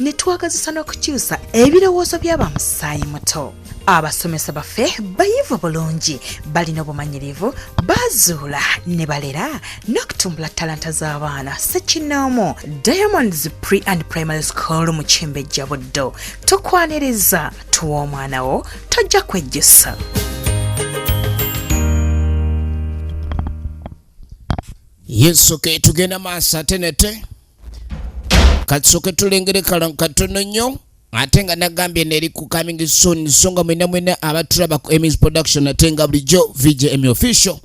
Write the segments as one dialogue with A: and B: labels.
A: ne twagazisa n'okukyusa ebirowoozo by'abamusaayi muto abasomesa baffe bayivu bulungi balina obumanyirivu bazuula ne balera n'okutumbula talanta z'abaana sekinoomu diamonds pre and primary school mu kimbejja buddo tukwaniriza tuwa omwana wo tojja kwejjusa
B: yesu ke tugenda maaso ate nete katsoke tulengere kala katono nnyo ate nga nagambye neri ku coming soon so nga mwena mwena abatulaba ku emis production ate nga bulijjo vgm official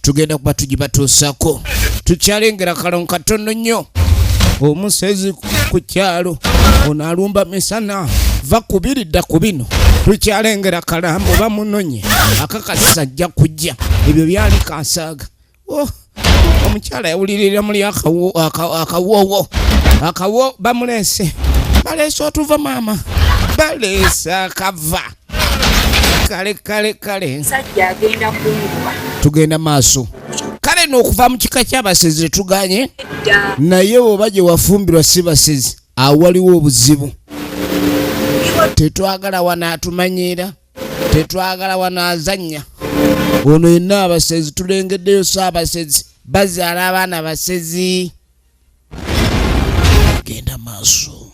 B: tugenda kuba tugibatuusako tukyalengera kalo katono nnyo omusezi ku kyalo ono alumba misana va kubiri dda ku bino tukyalengera kalambo bamunonye akakasisa ajja kujja ebyo byali kansaaga Oh, omukyala yawulirira muli akawowo akawo bamulese baleese otuva maama baleese akava kale kale kale
C: tugenda maaso
B: kale nokuva mu kika kyabasezi tetuganye naye oba gye wafumbirwa si basezi awaliwo obuzibu tetwagala wanaatumanyiira tetwagala wanaazannya ono yenna abasezi tulengeddeyo so abasezi bazaala abaana basezi genda maaso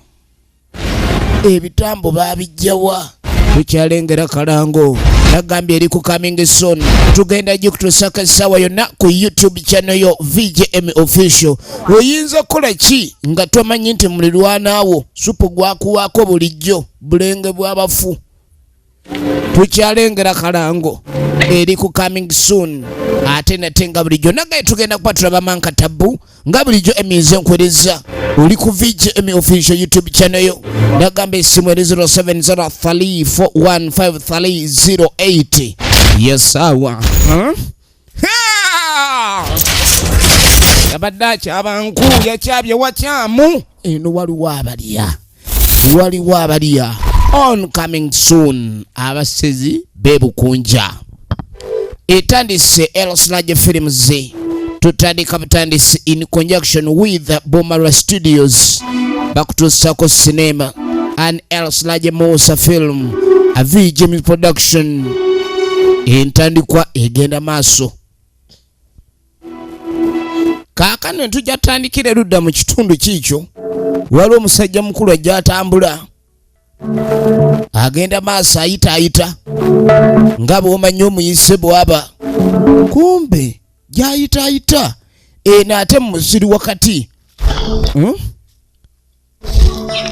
B: ebitambo babijjawa tukyalengera kalango nagambye eri ku coming soon tugenda gikutusaka essaawa yonna ku youtube channel yo vgm official oyinza okukola ki nga tomanyi nti mulirwanaawo supu gwakuwaako bulijjo bulenge bw'abafu tukyalengera kalango eri ku coming soon ate nate nga bulijjo nagaye tugenda kuba tulaba manka tabbu nga bulijjo eminze nkwereza oli ku vgm official youtube channel yo nagamba esimu eri 0703415308 yesawa huh? yabadde akyaba nku yakyabye wakyamu eno waliwo abalya waliwo abalya on coming soon abasezi bebukunja etandise elslaje films tutandika butandisi in conjunction with bomara studios bakutuusako sinema and else laje musa film a vgm production entandikwa egenda maaso kaakano entujja tandikira erudda mu kitundu kiikyo waliwo omusajja mukulu ajja atambula agenda maaso ayita ayita nga bwomanyi omuyise bwaba kumbe gyayita ayita eno ate mu musiri wakati hmm?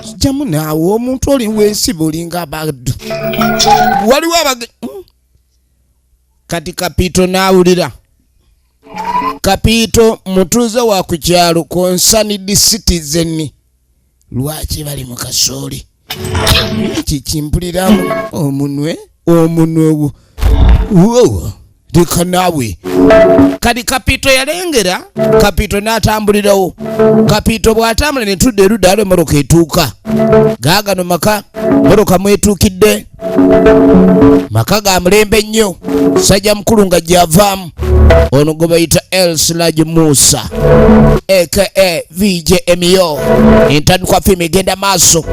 B: kijjamu naawe omuntu oli wensi bulinga abaddu waliwo abage hmm? kati kapiito naawulira kapiito mutuuze wa ku kyalo konsanidi citizen lwaki bali mu kasooli kikimpuliramu omunwe omunwe wo Whoa, leka naawe kati kapito yalengera kapito n'atambulirawo kapito bw'atambula ne tudda erudda alo emmotoka etuuka gaagano maka mmotoka mwetuukidde maka ga mulembe nnyo sajja mukulu nga gyavaamu ono gwe bayita elsilaj musa aka vj emio entandikwa fiimu egenda maaso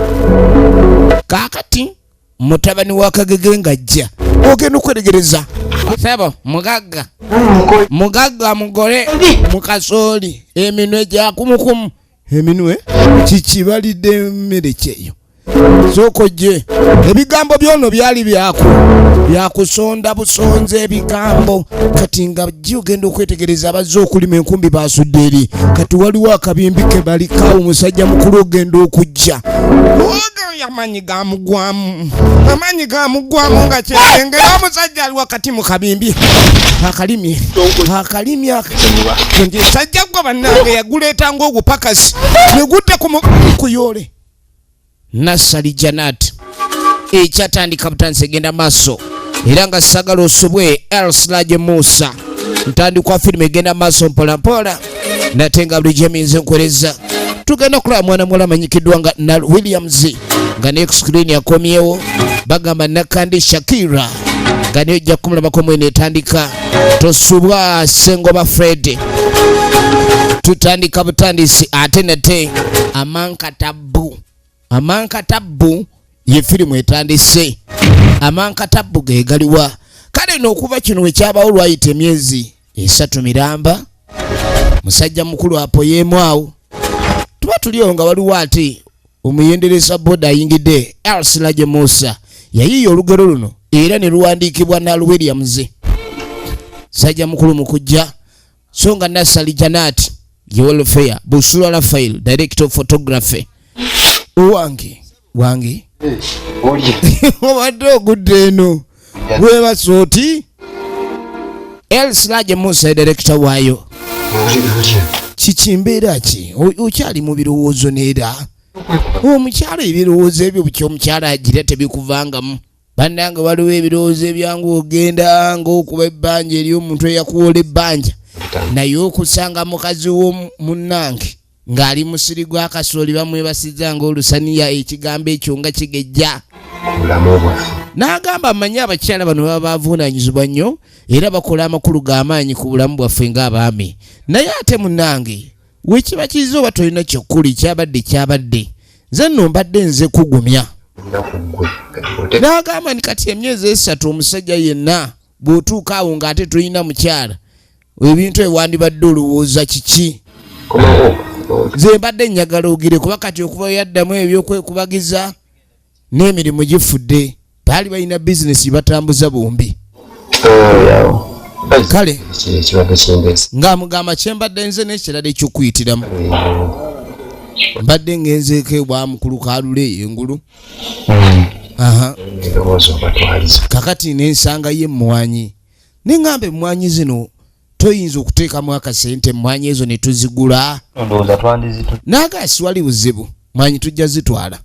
B: kaakati mutabani wa kagege ng'ajja ogenda okweregereza sebo mugagga mugagga mugole mukasooli eminwe gyakumukumu eminwe kikibalidde emmere kyeyo sooka ojje ebigambo byono byali byaku byakusonda busonza ebigambo kati nga jji ogenda okwetegereza abazze okulima enkumbi basudde eri kati waliwo akabimbi ke balikawo musajja mukulu ogenda okujja oyo yamanyi gamugwamu amaanyi gamugwamu nga kyengera omusajja ali wakati mu kabimbi akalimi akalimi esajja gwa bannange yaguleeta ngaogupakasi negudde kuyoole nassali janat ekyatandika butandisa egenda maaso era nga sagala osobwe elslaje musa ntandikwa firimu egenda maaso mpolampola nate nga bulijjo eminze nkuwereza tugenda okulaba mwana muwala amanyikiddwa nga nal williams nga ne screen yakomyewo bagamba nakandi shakira nga naye ojja kumulabako mwene etandika tosubwa sengoba fred tutandika butandisi ate nate amanka tabbu amankatabbu ye firimu etandise amankatabbu ge galiwa kale n'okuva kino we kyabawo lwayita emyezi esatu miramba musajja mukulu apoyeemu awo tuba tuliyo nga waliwo ate omuyendereza boda ayingidde elsilage musa yayiiya olugero luno era ne luwandiikibwa nal williams sajja mukulu mukujja so nga Nassali Janat ye welfare Busura Rafael director of photography owange wange obadde ogudde eno webasa oti elsirage musa edirekita waayo kiki mbeera ki okyali mu birowoozo neera omukyalo ebirowoozo ebyo bukyomukyalo agira tebikuvangamu bannange waliwo ebirowoozo ebyangu ogenda ngaokuba ebbanja eri omuntu eyakuwola ebbanja naye okusanga mukazi wo munnange ng'ali musiri gwa kasooli bamwebasiza ngaolusaniya ekigambo ekyo nga kigejja n'agamba amanyi abakyala bano baba bavuunanyizibwa nnyo era bakola amakulu g'amaanyi ku bulamu bwaffe ng'abaami naye ate munnange wekiba kiza oba tolina kyokuli kyabadde kyabadde nze no mbadde nze kugumya nagamba ni kati emyezi esatu omusajja yenna bwotuuka awo nga ate tolina mukyala ebintu ewandibadde olowooza kiki nze mbadde njagala ogire kuba kati okuba yaddamu ebyokwekubagiza n'emirimu gifudde baali balina bizinesi batambuza bombi kale ng'amugamba kyembadde nze n'ekirala ekyokuyitiramu mbadde ngenzeeko ewa mukulu kalule eyo engulu hmm. kakati nensanga ye emmwanyi neŋamba emmwanyi zino toyinza okuteekamu akasente emmwanyi ezo ne tuzigula naaga siwali buzibu mwanyi tujja zitwala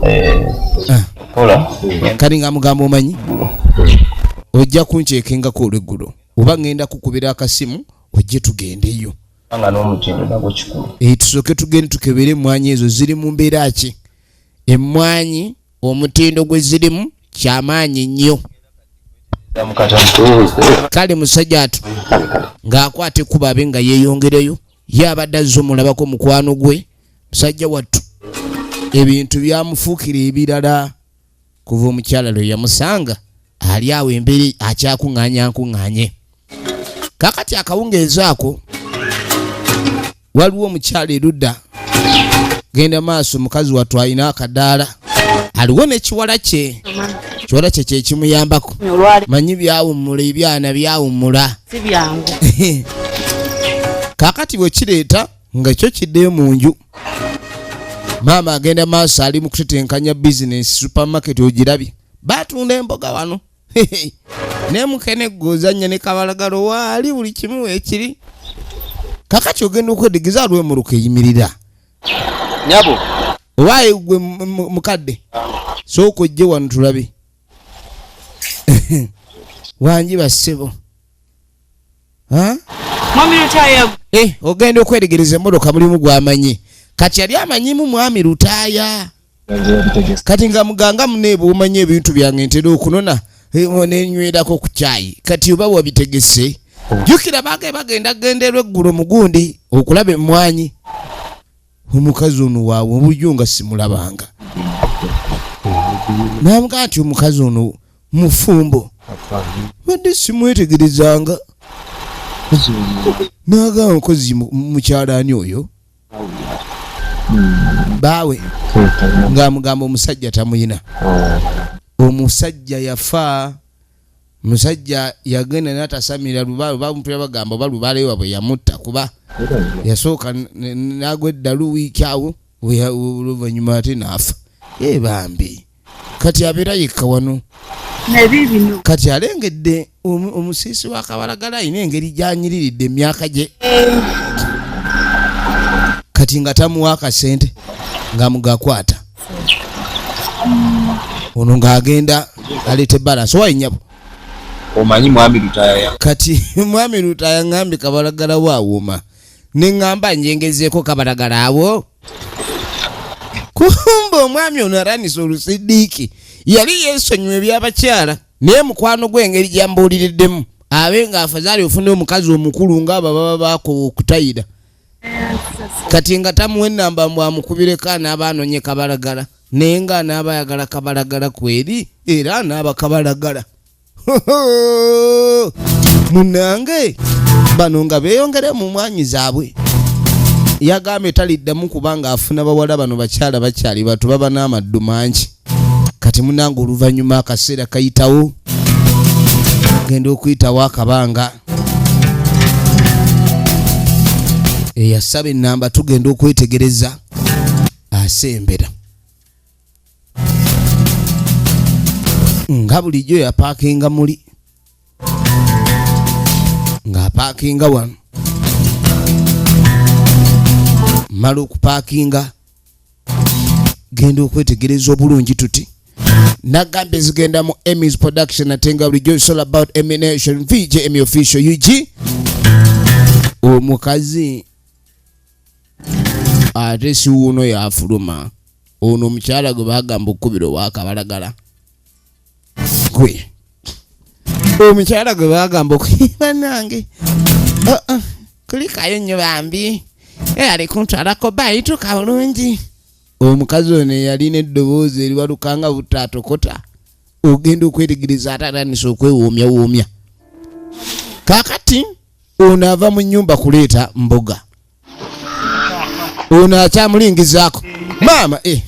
B: eh, ah. kali nga mugamba omanyi ojja kunkyekengako olweggulo oba ŋŋenda kukubira akasimu ojje tugendeyo eh, tusooke tugende tukebere emmwanyi ezo ziri mu mbeera ki emmwanyi omutindo gwe zirimu kyamaanyi nnyo kale musajja atu ng'akwata ekkuba abe nga yeeyongereyo ye abadde azze omulabako mukwano gwe musajja wattu ebintu byamufuukira ebirala kuva omukyala lwe yamusanga ali awo emberi akyakuŋŋaanya nkuŋŋaanye kakati akawungeezi ako waliwo omukyala erudda genda maaso mukazi wattu alina akadaala aliwo nekiwala kye kiwala kye kyekimuyambako manyi byawummula ebyana byawummula kakati bwekireeta nga kyo kiddeyo mu nju maama agenda maaso ali mu kutetenkanya bizinesi supermarket ogirabye batunda emboga wano naye mukene gozanya ne kabalagalo waali buli kimu ekiri kakati ogenda okwedigeza alwemuluka eyimirira nyabo owaye gwe mukadde sooka ojje wano tulabe wangi bassebo mwami lutaaya eh, ogenda okweregereza emotoka mulimu gwamanyi kati yali amanyimu mwami lutaaya kati nga muganga muneebwe omanya ebintu byange ntera okunona eh, nenywerako ku kyayi kati oba wabitegese jukira baage bagenda genderwa eggulo mugundi okulaba emmwanyi omukazi ono waawe obujo nga simulabanga namugaa nti omukazi ono mufumbo badde simwetegerezanga naga omukozi mukyalani oyo baawe ngaamugamba omusajja tamuyina omusajja yafa musajja yagenda natasamira bamupira bagamba oba lubaale wabwe yamutta kuba yasooka nagwa eddalu wiiki awo oluvanyuma ate naafa e bambi kati abeera yekka wano kati alengedde omusiisi wa kabalagala alina engeri gyanyiriridde emyaka gye kati nga tamuwa akasente nga mugakwata ono ng'agenda aleete balance owaye nyabo omanyi mwami
D: lutaya
B: kati mwami
D: lutaya
B: ngambi kabalagala
D: wawuma
B: nengamba njengezeeko kabalagala awo kumba omwami ono aranisa olusidiiki yali yesonyiwa ebyabakyala naye mukwano gwengeri gyambuuliriddemu abe ng'afazaali ofuna omukazi omukulu ng'abo baba bakutayira kati nga tamuwa enamba mbu amukubireko anaaba anonye kabalagala naye nga anaaba ayagala kabalagala kweri era anaaba kabalagala munange bano nga beyongere mu mwanyi zaabwe yagambye taliddamu kubanga afuna bawala bano bakyala bakyali batu baba n'amaddu mangi kati munange oluvannyuma akaseera kayitawo genda okuyitawo akabanga eyasaba enamba tugenda okwetegereza asembera nga bulijjo yapakinga muli ng'apaakinga wano mala okupaakinga genda okwetegereza obulungi tuti nagamba ezigenda mu emis production ate nga bulijjo it's all about emination vj emi official ug omukazi ate siwuuno yafuluma ono omukyala gwe bagamba okukubira owakabalagala gwe omukyala gwe bagamba okubanange oh, oh, kulikayo nnyo bambi eyali kuntwalako bayituka bulungi omukazi ono eyalina eddoboozi eriwalukanga butaatokota ogenda okwetegereza ate atandisa okwewoomyawoomya kakati ono ava mu nyumba kuleeta mboga ono akyamulingizaako maama eh.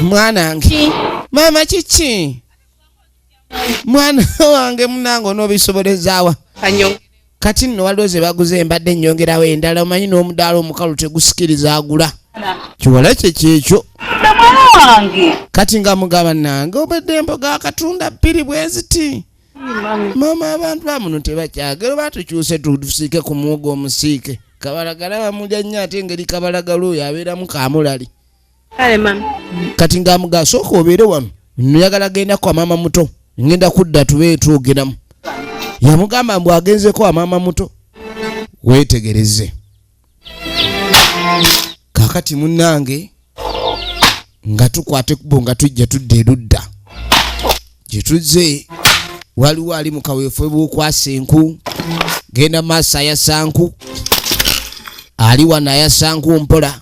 B: mwanange maama kiki mwana wange munange onobisobolezaawa kati nno waliwo ze baguze embadde ennyongerawo endala omanyi n'omudaala omukalu tegusikiriza agula kiwala kye kyekyo kati nga mugaba nange obedde emboga akatunda bbiri bweziti Mama abantu amuno tebakyagera oba tukyuse tusiike ku muwogo omusiike kabalagala bamulya nnyo ate engeri kabalagala oyo abeeramu kamulali kati nga mugasooka obeere wano nyagala genda kwa maama muto ngenda kudda tube twogeramu yamugamba mbu agenzeko amaama muto weetegereze kakati munnange nga tukwata ekkubo nga tujja tudda erudda gye tuzze waliwo ali mu kaweefube bw'okwasa enku genda maaso ayasa nku ali wano ayasa nku mpola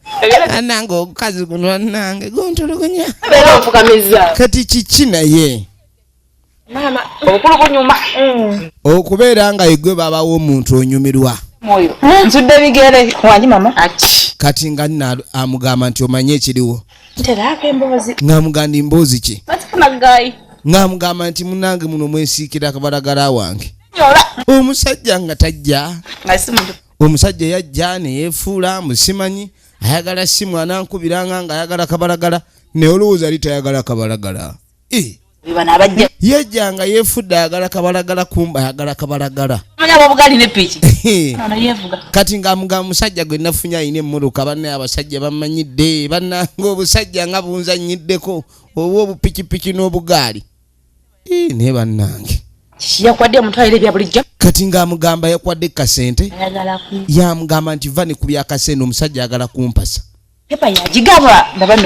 B: anange ogukazi guno anange guntulugunya kati kiki naye mm. okubeera nga igwe babawo omuntu onyumirwa
C: kati nga
B: nna amugamba nti omanye ekiriwo
C: ngamuganda emboozi
B: ki ngamugamba nti munange muno mwesiikira akabalagala wange omusajja nga tajja omusajja yajja neyefuula musimanyi ayagala simu anankubiranga nga ayagala kabalagala naye olowooza ali tayagala kabalagala eh. yajja nga yefudde ayagala kabalagala kumba ayagala kabalagala kati ngamuga musajja gwe nafunye alina emmotoka banne abasajja bamanyidde bannanga obusajja nga bunzanyiddeko oba obupikipiki n'obugaali naye bannange yakwadde
C: omutwalire ebya bulijjo kati ng'amugamba
B: yakwadde kasente yamugamba nti va ne ku byakasente omusajja ayagala kumpasa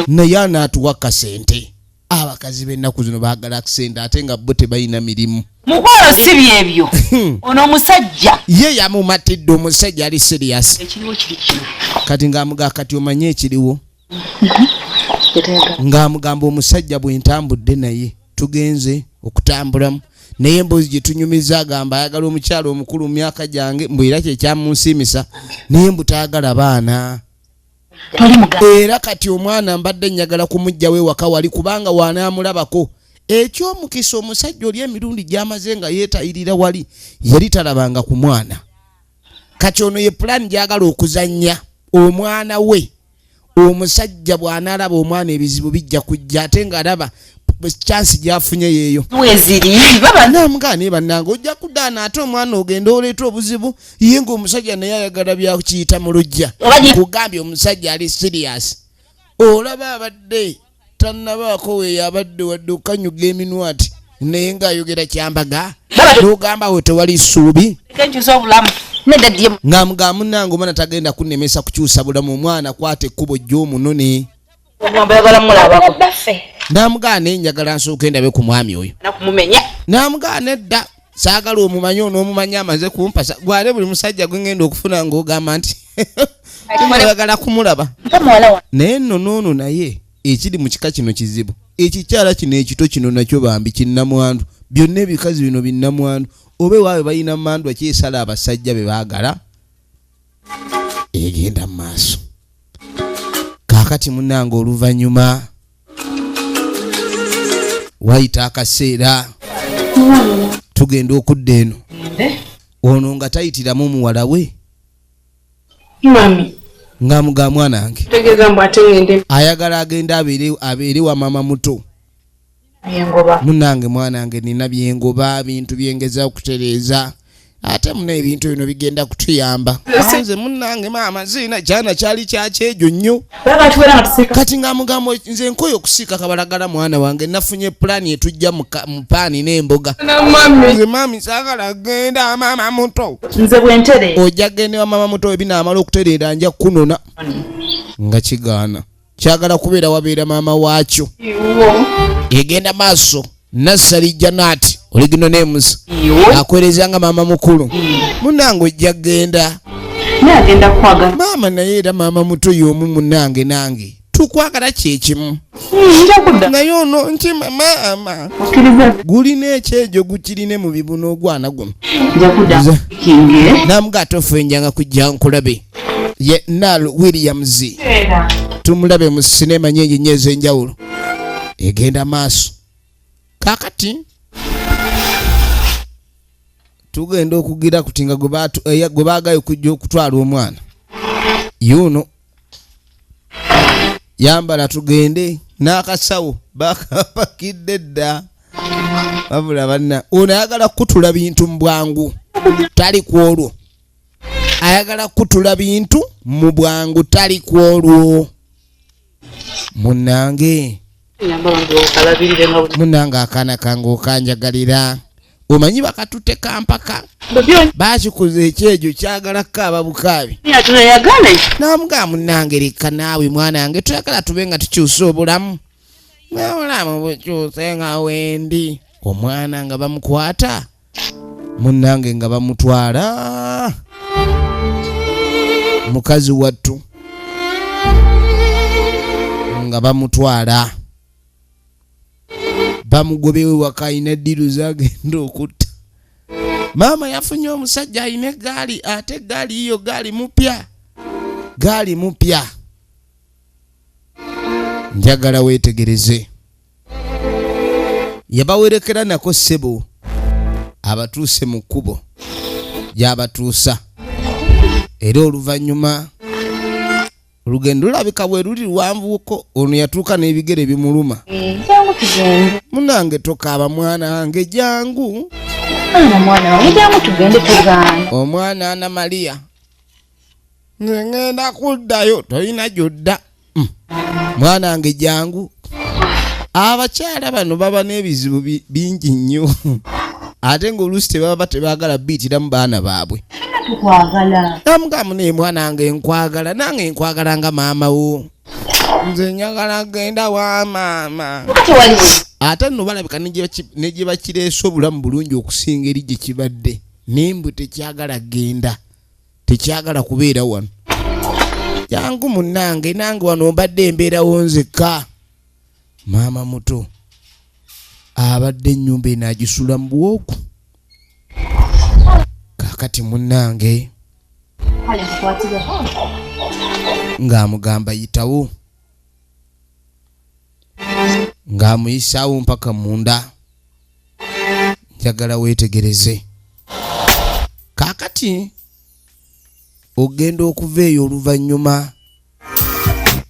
C: naye
B: anaatuwa kasente abakazi b'ennaku zino baagala akisente ate nga bo tebalina mirimu mukwalo si
C: byebyo hmm. ono omusajja ye yamumatidde
B: omusajja ali siriyasi kati ng'amugaa kati omanye ekiriwo ng'amugamba omusajja bwe ntambudde naye tugenze okutambulamu naye emboozi gye tunyumiza agamba ayagala omukyalo omukulu mu myaka gyange mbu era kyekyamunsiimisa naye mbu tayagala baana era kati omwana mbadde njagala kumugjawo ewaka wali kubanga wanaamulabako ekyomukisa omusajja oli emirundi gyamaze nga yeetayirira wali yali talabanga ku mwana kati ono ye pulaani gyagala okuzannya omwana we omusajja bw'anaalaba omwana ebizibu bijja kujja ate ng'alaba kyansi gyafunye yeeyo weziribabanamugana
C: naye bannange
B: ojja kudaana ate omwana ogenda oleeta obuzibu ye ng'omusajja naye ayagala byakiyita mu lujja kugambye omusajja ali siriyasi olaba abadde tannabaako weyabadde wadde okanyuga eminwati naye ng'ayogera kyambaga nogamba we tewali ssuubi
C: ngamuga munange
B: omwana tagenda kunemesa kukyusa bulamu omwana kwata ekkubo jyomunone
C: namugaana
B: enjagala nsooka endabe ku mwami oyo
C: namugaana edda
B: saagala omumanye onoomumanya amaze kumpasa gwale buli musajja gwe ngenda okufuna ng'ogamba nti oyagala kumulaba naye nno noono naye ekiri mu kika kino kizibu ekikyala kino ekito kino nakyo bambi kinnamwandu byonna ebikazi bino binnamwandu oba ewaawe balina mandwa kyesala abasajja be baagala egenda mu maaso kakati munange oluvannyuma wayita akaseera tugenda okudda eno ono nga tayitiramu muwala we
C: mami nga
B: muga mwana wange
C: ayagala agenda
B: abeere wa maama muto byengoba
C: munange
B: mwanange nina byengoba bintu byengeza okutereeza ate muna ebintu bino bigenda kutuyamba nze munange maama ziina kyana kyali kyakyejo nnyo kati nga mugambo nze nkoyo okusiika kabalagala mwana wange nafunye pulaani etujja mu paani n'emboga nze maami sagala genda maama muto nze bwentere
C: ojja gendewa maama
B: muto ebinaamala okutereera nja kukunona nga kigaana kyagala kubeera wabeera maama waakyo egenda maaso nassali janaati oligino nemusa akwereza nga maama mukulu munange ojja genda
C: maama naye era maama
B: muto yomu munange nange tukwagala kyekimu hmm, naye ono nkima maama gulina ekyejo gukirine mu bibuno ogwana guno namuga atofuenjanga kujja nkulabe ye Nal Williams tumulabe mu sinema nyingi nnyo ez'enjawulo egenda maaso kakati tugenda okugira kuti nga gwe eh, baagaye okujja okutwala omwana yuno yambala tugende n'akasawo bakapakidde dda wabula banna ono ayagala kukutula bintu mu bwangu tali ku olwo ayagala kutula bintu mu bwangu tali ku olwo munange munange akaana kange okanjagalira omanyi bakatute kampaka bakikuza ekyejo kyagala kukaaba bukaabi namugaa munange leka naawe mwana nge tuyagala tube nga tukyusa obulamu nabulamu bukyuse nga wendi omwana nga bamukwata munnange nga bamutwala mukazi wattu nga bamutwala bamugobewe waka alina eddiru zagenda okutta maama yafunye omusajja alina egaali ate egaali yiyo gaali mupya gaali mupya njagala weetegereze yabawerekera nako ssebo abatuuse mu kkubo gy'abatuusa era oluvannyuma olugendo lulabika bwe luli luwanvuko ono yatuuka n'ebigere bimuluma munange tokaaba mwana wange jangu omwana ana mariya nze ŋŋenda kuddayo tolina gyodda mm. mwana wange jangu abakyala bano baba n'ebizibu bingi nnyo ate ng'oluusi tebaba tebaagala biitiramu baana baabwe amugamu naye mwana wange nkwagala nange nkwagala nga maama wo nze njagala genda wa maama ate nno balabika negyebakireese obulamu bulungi okusinga eri gye kibadde naye mbu tekyagala genda tekyagala kubeera wano jangu munange nange wano mbadde embeerawo nzekka maama muto abadde ennyumba eno agisula mu bwoku kakati munange ng'amugamba yitawo ng'amuyisaawo mpaka munda njagala weetegereze kaakati ogenda okuva eyo oluvannyuma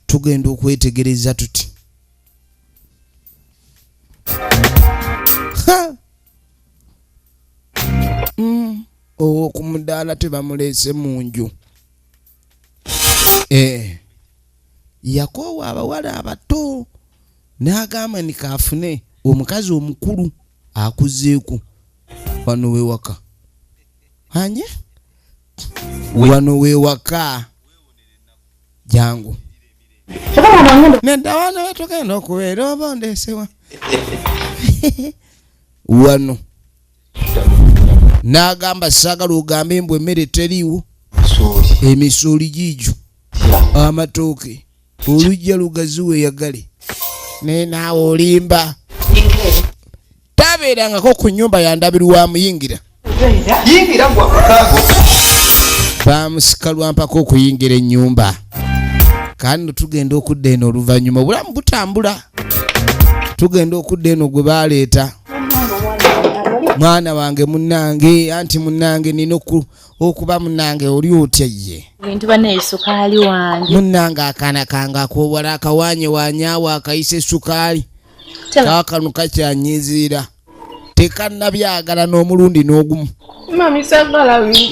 B: tugenda okwetegereza tuti mm. owo ku mudaala tebamuleese mu nju eh. yakoowa abawala abato n'agamba ni kaafune omukazi omukulu akuzeeko wano wewaka anye wano wewaka jangu nedawano wetugenda okubeera oba ondeesewa wano n'agamba saagala ogambe mbu emmere teriiwo emisooli giigyo amatooke olujja lugazi weyagale naye naawe olimba tabeerangako ku nyumba yandabirwamu yingira bamusika lwampaka okuyingira ennyumba kandi tugenda okudda eno oluvannyuma obulamu butambula tugenda okudda eno gwe baleeta mwana wange munange anti munange nina okuba munange oli otya ye bintu banaye sukaali
D: wange munange akaana
B: kange akowala akawanye wanyawo akayisa esukaali kakanu kakyanyiziira tekanabyagala n'omulundi n'ogumu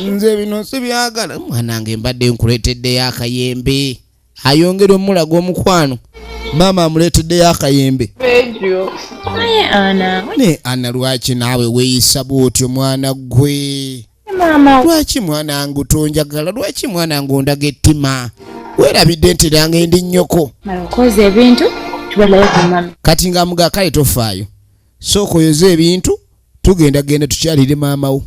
C: nze bino
B: sibyagala mwanange mbadde nkuleeteddeyo akayembe ayongera omulaga omukwano maama amuleeteddeyo akayembe
D: naye ana lwaki
B: naawe weeyisa bwotyo mwana ggwe lwaki
D: mwana ngu
B: tonjagala lwaki mwana ngu ondaga ettima weerabidde nti ranga endi nnyoko
D: kati ng'amuga kale
B: tofaayo sooka oyoze ebintu tugenda genda tukyalire maamawo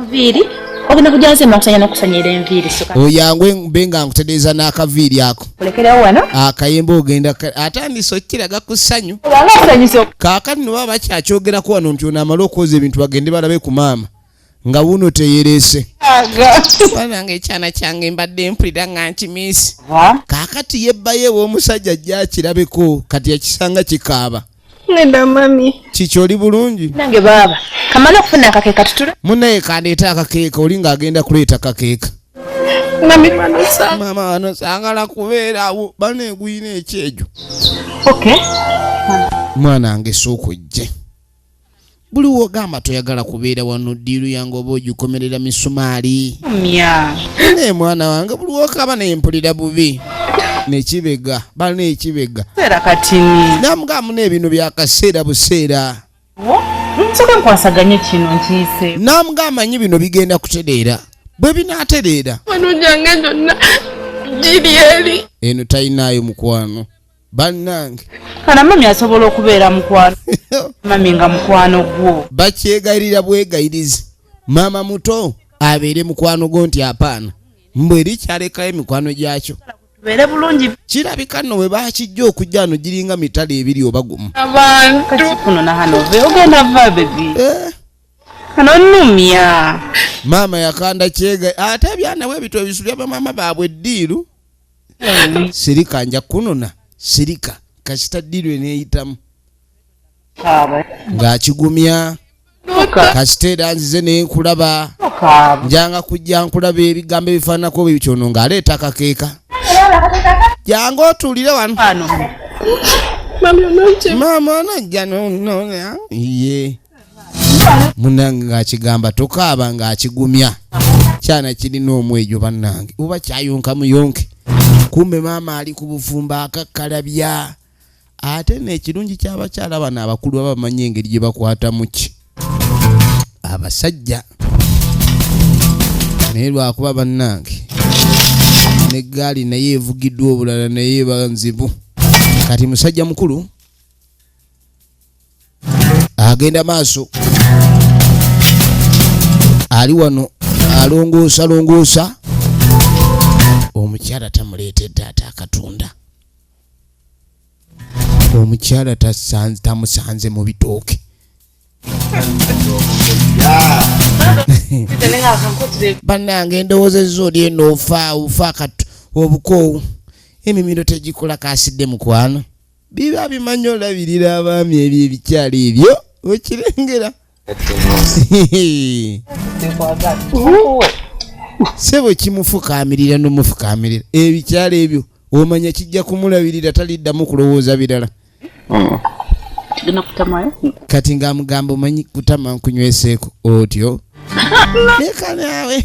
B: nviiri
D: ogenda kujja nze makusanya nokusanyira enviiri oyangwe mbe
B: nga nkutereeza n'akaviiri ako olekerewo wano
D: akayemba ogenda
B: atandise okukiraga ku ssanyu kaakati noba bakyakyogerako wano nti ono amale okwoza ebintu bagende balabe ku maama nga wuno teyerese banange ekyana kyange mbadde mpulira nga nkimiisi kakati yebbayo ew'omusajja ajja akirabeko kati yakisanga kikaaba neda mami
C: kiki oli bulungi
B: nange baaba
D: kamala okufuna akakeeka tutule munaye kandeeta
B: akakeeka oli ng'agenda kuleeta kakeeka mami
C: banosa mama banosa
B: ngala kubeerawo baneeguyina ekyejo okay mwana nge sookujje buli wogamba toyagala kubeera wano diiru yange oba ogikomerera misumaali naye mwana wange buli wokaba naye mpulira bubi nekibega balina ekibega namugamu nebino byakaseera buseera
D: namuga amanyi bino
B: bigenda kutereera bwe binatereera
C: eno talinaayo
B: mukwano bannange kana mami
D: asobola okubeera mukwano mami nga mukwano gwo bakyegayirira
B: bwegayirizi maama muto abeere mukwano gwo nti apaana mbu eri kyalekayo emikwano gyakyo tubeere bulungi
D: kirabika nno bwe
B: bakijja okujja no giringa mitala ebiri oba gumu abantukuno
C: nahanove
D: ogenda va bebi eh. anonumya maama
B: yakanda kyega ate byanawe ebito ebisu byabamaama baabwe eddiiru sirika nja kunona sirika kasita dirwe neyitamu ng'akigumya kasita era nzize naye nkulaba njanga kujja nkulaba ebigambo ebifaananako bwe bityono ng'aleeta akakeeka jangu otuulire wano maama onojja nonona ye munange ng'akigamba tokaaba ng'akigumya kyana kirina omwejo bannange oba kyayonka muyonke kumbe maama ali ku bufumba akakkalabya ate n'ekirungi ky'abakyala bano abakulu baba bamanyi engeri gye bakwatamu ki abasajja naye lwakuba bannange n'eggaali naye evugiddwa obulala naye banzibu kati musajja mukulu agenda maaso ali wano alongoosa longoosa omukyala tamuleetedde ate akatunda omukyala tamusanze mu bitooke bannange endowooza ezizo oli eno ofa ofa obukoowu emimiro tegikola kasidde mukwano biba bimanyi olabirira abaami ebyo ebikyalo ebyo okirengera sebo kimufukamirira nomufukamirira ebikyalo ebyo omanya kijja kumulabirira taliddamu kulowooza birala mm. kati ngaamugamba omanyi kutama nkunyweseeko otyo leka naawe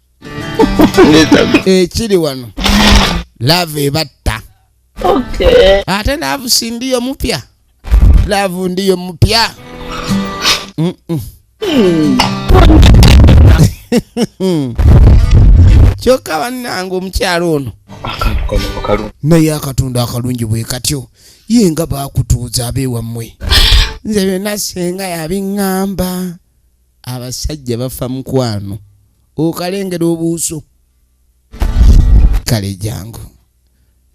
B: ekiri eh, wano laavu ebatta ate laavu sindiyo mupya laavu ndiyo mupya kyokka bannange omukyalo ono naye akatundu akalungi bwe katyo ye nga bakutuuza abeewammwe nze byonna senga yabiŋŋamba abasajja bafa mukwano okalengera obuuso kale jangu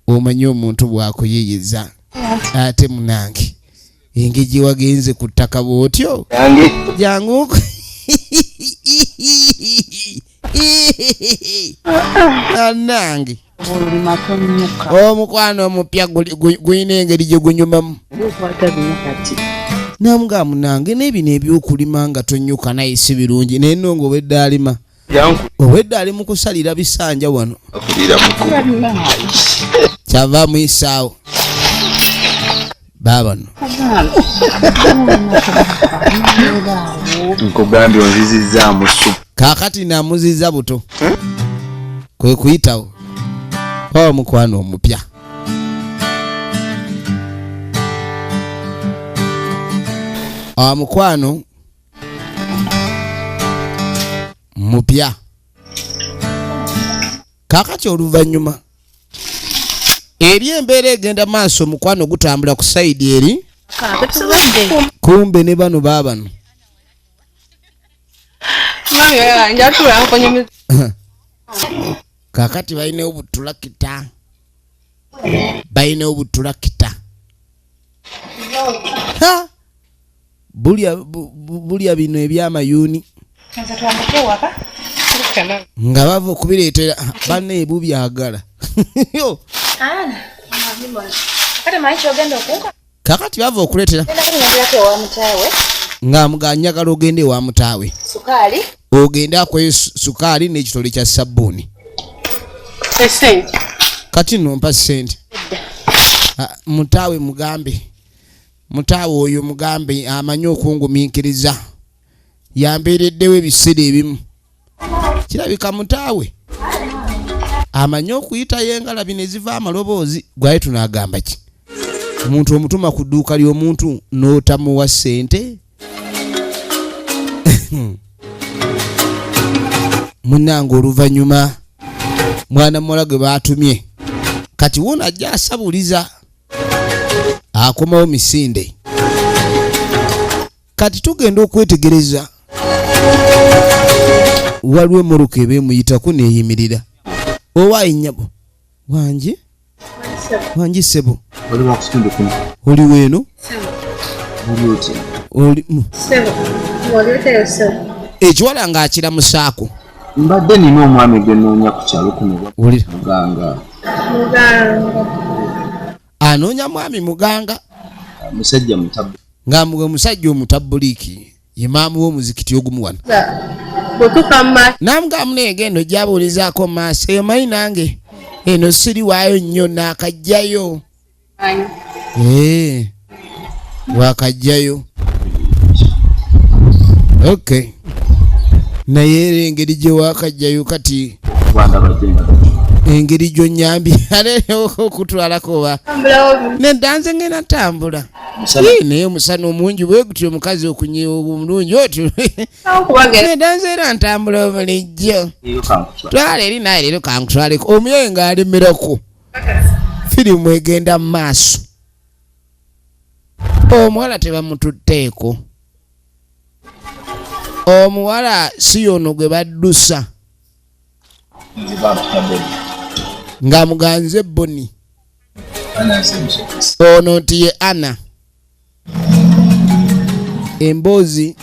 B: omanyi omuntu bwakuyiyiza ate munange engeri gyewagenze ku ttaka bwotyo jangu anange omukwano omupya gulina engeri gye gunyumamu namuga munange nebino ebyokulima nga tonyuka naye si birungi naye no nga obwedde alima obwedde ali mukusalira bisanja wano kyava muyisaawo baabano
E: nkugambye onzizizzaamu su kaakati namuziza
B: buto eh? kwe kuyitawo oba mukwano omupya owa mukwano mupya kakati oluvannyuma eri embeera egenda maaso omukwano gutambula ku saidi eri kumbe ne bano baabano kakati balina obutulakita balina obutulakita bulya bino ebyamayuuni nga bava okubireetera bana ebu byagala kakati bava okuleetera ng'amuganyagala ogenda ewa mutaawe ogende akweyo sukaali n'ekitole kya sabbuuni kati nompa sente ah, mutaawe mugambe mutaawe oyo mugambe amanyi okungumiikiriza yambeereddewo ebiseera ebimu kirabika mutaawe amanyi okuyitayo engalabi ne ziva amaloboozi gwaye tunaagamba ki omuntu omutuma ku dduuka ly'omuntu n'otamuwa ssente munnange oluvannyuma mwana muwala gwe baatumye kati wona ajja asabuliza akomawo misinde kati tugenda okwetegereza waliwo emmotoka eba emuyitako neeyimirira owaayi nnyabo wangi wangi ssebo oli weeno ekiwala ng'akiramusaako mbadde nina
E: omwami gwe noonya ku kyalo kuno muganga
B: anoonya mwami muganga musajja
E: mutabu nga mwe musajja
B: omutabuliiki ye maamu w'omuzikiti ogumu wano namugamu neegendo gyabuulizaako maaso eyo mayi nange eno siri waayo nnyo naakajjayo Eh, wakajjayo okay naye era engeri gye wakajjayo kati engeri gyonyambi okutwalako oba nedanze ngena tambula naye omusana omungi bwegutyo omukazi okunyiwa omulungi otyo nedanze era ntambula obulijjo twala eri naye leero kankutwaleko omuyaye ng'alemerako firimu egenda mu maaso omuwala tebamututteeko omuwala si yono gwe baddusa nga muganze boni ono nti ye ana emboozi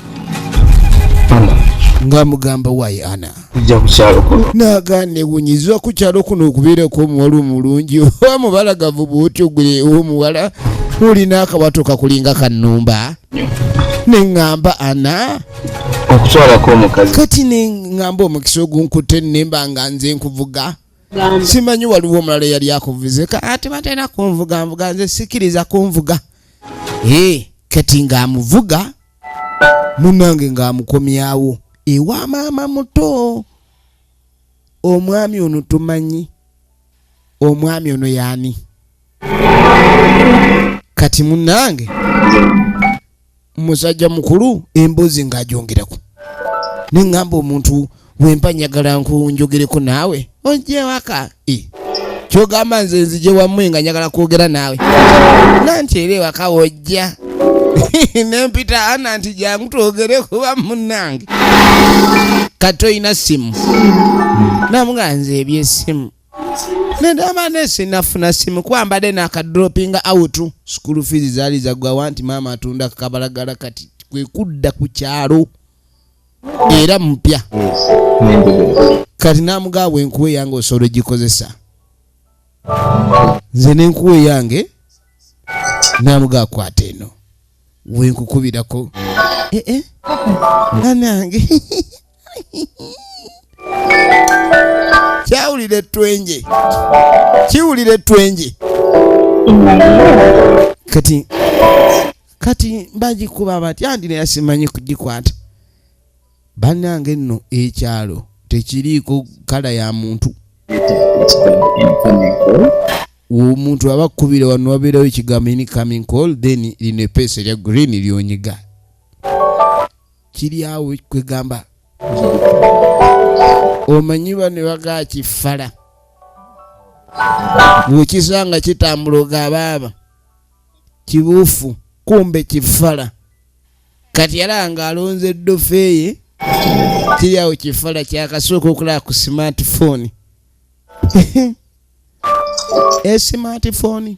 B: nga mugamba wayi ana
E: ija kukyalo kuno naga newunyizibwa
B: ku kyalo kuno okubeerako omuwala omulungi oba mubalagavu bwotyo gwe omuwala olina akawato kakulinga kanumba neŋŋamba ana okutwalako
E: omukazi kati neŋŋamba
B: omukisa ogunkutte nemba nga nze nkuvuga simanyi waliwo omulala eyali akuvuze ate batalina kunvuga nvuga nze sikiriza kunvuga ee kati ng'amuvuga munange ng'amukomyawo ewa maama muto omwami ono tumanyi omwami ono yaani kati munange musajja mukulu embuzi ngajongerako nengamba omuntu wempa njagala nkunjogereko naawe ojje waka e. kyogamba nze nzije wamwe nga njagala kwogera naawe nanti era ewaka wojja nempita ana nti jangu twogere kuba munange kati olina simu namuga nze ebyesimu Nedama nesi nafuna simu kuba mbadde nakadropinga out school fees zaali zagwawa nti maama atunda kabalagala kati kwe kudda ku kyalo era mupya kati namugaa bwenkuwa eyange osobola ogikozesa nze nenkuwa eyange namugaa kwata eno wenkukubirako eh, eh. nanange kyawulira ettwenje kiwulira ettwenje kati kati bagikuba batya ndi naye simanyi kugikwata Banange nno ekyalo tekiriiko kala ya muntu omuntu aba kubira wano wabeerawo ekigambo ini coming call then lino epeesa erya green lyonyiga kiri awo kwegamba omanyi bane bagakifala bwekisanga kitambula ogabaaba kibuufu kumbe kifala kati yalaba ng'alonze ddofeeye kiri awo kifala kyakasooka okulaba ku smartphone esimatifoni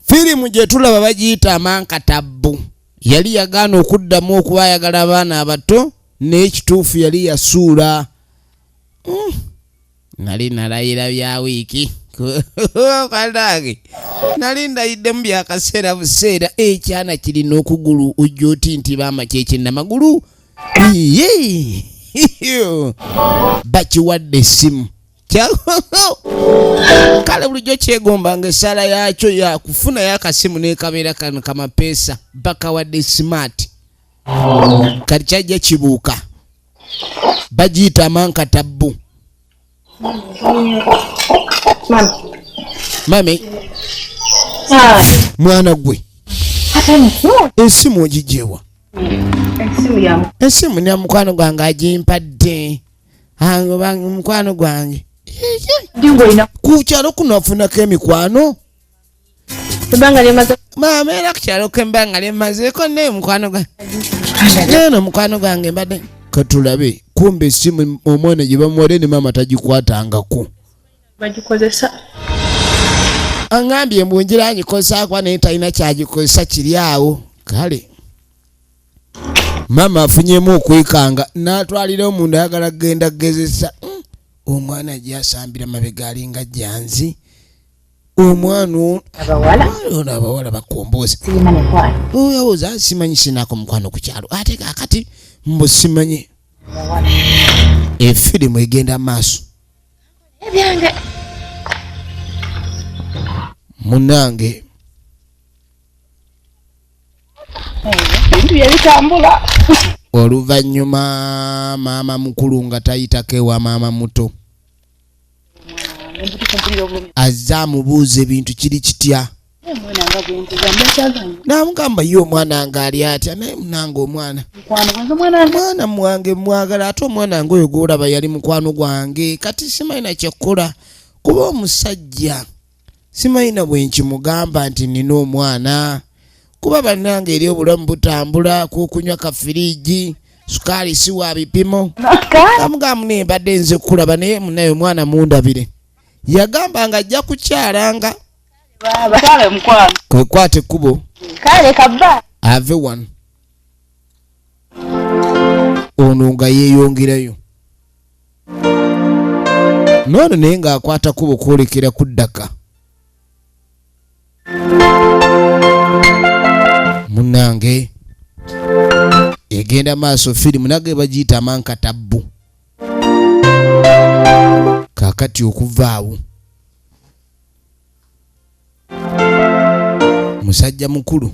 B: firimu gye tulaba bagiyita amankatabbu yali yagaana okuddamu okuba ayagala abaana abato n'ekituufu yali yasuula mm. nali nalayira bya wiiki kwanange nali ndayiddemu byakaseera buseera ekyana eh, kirina okugulu ojja oti nti baama kyekinamagulu bakiwadde essimu kale bulijjo kyegomba nga esaala yakyo yakufuna yakasimu nekabeera kano kamapeesa bakawadde smart kati kyajja kibuuka bagiyita amankatabbu mami mwana gwe esimu ogijewa esimu na mukwano gwange agimpadde mukwano gwange ku kyalo kuno afunako emikwano ebbanga lyemaze maama era kukyaloko embanga lyemazeeko naye mukwano gwange neno mukwano gwange mbadde katulabe kumbe esimu omwana gye bamuwade ne maama tagikwatangako bagikozesa aŋambye mbu njira agikozesa kuba naye talina kyagikozesa kiri awo kale maama afunyemu okwekanga n'atwalira omunda ayagala kugenda kugezesa hmm, omwana gyasambira mabega alinga janzi omwana ono abawala bakombozi oyawoza simanyi sinako mukwano ku kyalo ate kakati mbu simanyi efirimu egenda maaso munange
D: oluvannyuma
B: maama mukulu nga tayitako ewa maama muto azze amubuuza ebintu kiri kitya namugamba ye omwana nga ali atya naye munanga omwana mwana mwange mwagala ate omwana nga oyo gwolaba yali mukwano gwange kati simanyi nakyekkola kuba omusajja simanyi na bwe nkimugamba nti nnina omwana kuba bannange eri obulamu butambula kukunywa kafiriigi sukaali si wa bipimo amugamu naye mbadde nze kukulaba naye munaye omwana mundabire yagamba nga ajja kukyalanga kwekwata ekkubo ave wano ono nga yeeyongerayo noono naye ng'akwata kubo kwolekera ku ddaka munange egenda maaso firimu nage bagiyita amankatabbu kakati okuvaawo musajja mukulu